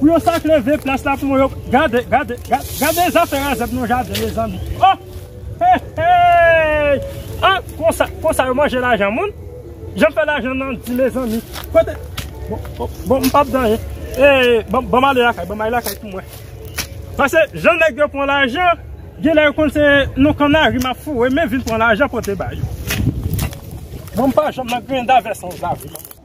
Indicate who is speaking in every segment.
Speaker 1: Pou yo sak leve plas la pou mwen yo gade gade gade zafè razèd nan jaden mezanmi oh hehey ah konsa konsa yo manje lajan moun janm fè lajan nan di mezanmi kote bon bon m pap danyen eh banm ale lakay banm ale lakay pou mwen pase jan nèg yo pran lajan genlè yo konn se nan kannari map foure men vin pran lajan pote ba yo mwen m pa janm nan grenda vè san zave.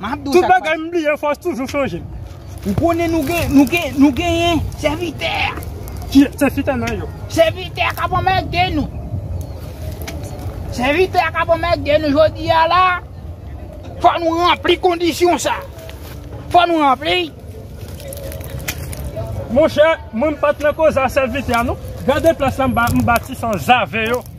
Speaker 1: Map diw sak pase. Tout bagay m bliye fòs toujou chanje. Ou konnen
Speaker 2: nou gen nou gen nou genyen sèvitè a. Ki
Speaker 1: sèvitè nan yo? Sèvitè a kap
Speaker 2: anmède nou. Sèvitè a kap anmède nou jodi a la. Fò nou ranpli kondisyon sa. Fò nou ranpli.
Speaker 1: Monchè mwen m pat nan koze a sèvitè a non. Gade plas la m bati san zave yo.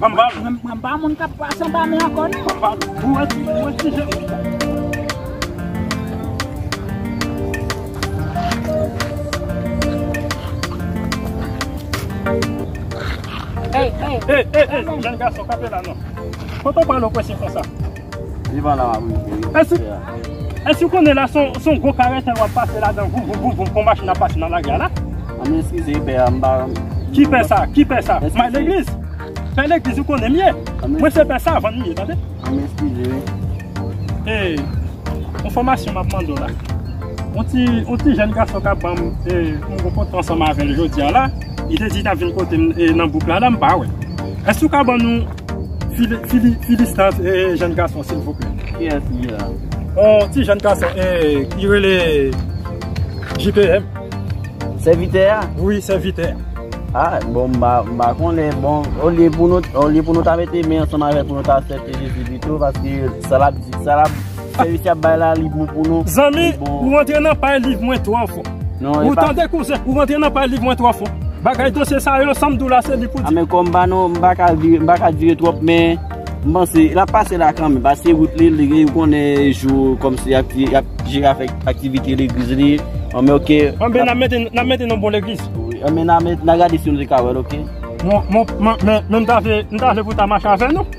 Speaker 2: Mwen pa moun kap pase anba men ankò non. Hey hey, jèn gason kanpe
Speaker 1: la non. Kote w prale w prese konsa?
Speaker 3: Èske
Speaker 1: ou konnen la se yon gwo karetèl wap pase ladan voum voum voum voum kon machin ap pase nan lari a la? An nou eskize pè
Speaker 3: a m pa. Ki pè sa?
Speaker 1: Ki pè sa? May legliz? Pè legliz ou konnen m ye? Mwen se pè savann m ye tande. An nou eskize wi.
Speaker 3: Ee yon fòmasyon
Speaker 1: m ap mande w la. Yon ti yon ti jèn gason kap ban m e m rankontre ansanm avè l jodi a la. Li te di li tap vin kote m nan bouk la la m pa wè l. Èske ou ka ban nou. Philistans e jen gason silvouplè. Kiyès li la?
Speaker 3: On ti jen
Speaker 1: gason e ki rele JPM.
Speaker 3: Sèvitè a? Wi sèvitè
Speaker 1: a. A bon
Speaker 3: m pa konnen bon olye pou nou ta mete men ansanm avèk nou ta asèpte Jezi pito paske sa l ap di sa l ap Seri ki ap bay la li bon pou nou. Zanmi ou rantre
Speaker 1: nan pay live mwen twò fò. Ou tande
Speaker 3: kouzen
Speaker 1: ou rantre nan pay live mwen twò fò. Bagay dosye sa yo sam diw la se li pou di. Amèkò m pa nan m pa
Speaker 3: ka vire m pa ka dire twòp men m panse lap pase la kanmenm pase wout li li gen konnen jou kòmsi yap jere avèk aktivite legliz li anmè ok. Anmè nan mete nan
Speaker 1: mete nan bon legliz. Anmè nan mete nan
Speaker 3: gade si nou te ka wèl ok. Mwen
Speaker 1: m ta vle pou ta mache avè nou.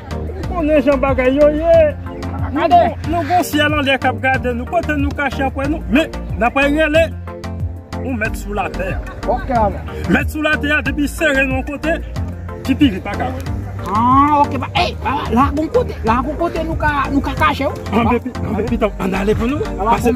Speaker 2: Ou konnen
Speaker 1: jan bagay yo ye. Nou gen yon syèl anlè k ap gade nou. Kote nou kache apre nou. Men, n apre rele yon mèt sou latè a. Ok ala.
Speaker 2: Mèt sou latè
Speaker 1: a depi sere nou yon kote, ti pigri pa ka wè nou. Ah ok.
Speaker 2: Ey, la gon kote. La gon kote nou ka kache ou. Anbe pitanm,
Speaker 1: an n ale pou nou wè.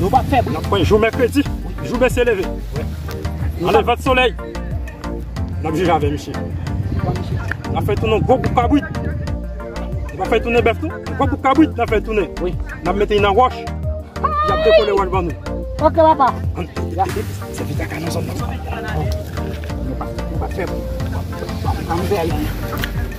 Speaker 2: Nou pa fèb. Nap pran jou mèkredi,
Speaker 1: jou mesye leve. Nan levant solèy. Nap jije avè misye. Nap fè tounen gwo bouk kabrit. Nou pa fè tounen bèf tou. Gwo bouk kabrit nap fè tounen. Nap mete nan wòch. Yap dekole wòch ban nou. Ok papa. Se vit
Speaker 2: kaka nan zòn nan. Nou pa fèb. Nou pa fèb.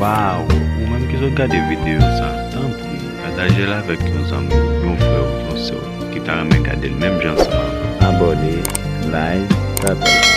Speaker 4: Waw ou menm ki sot gade video sa tanpri patajel avek yon zanmi ou yon frè ou yon sè ou ki ta renmen gadel menm jan ansanm avèm. Abone like pataj.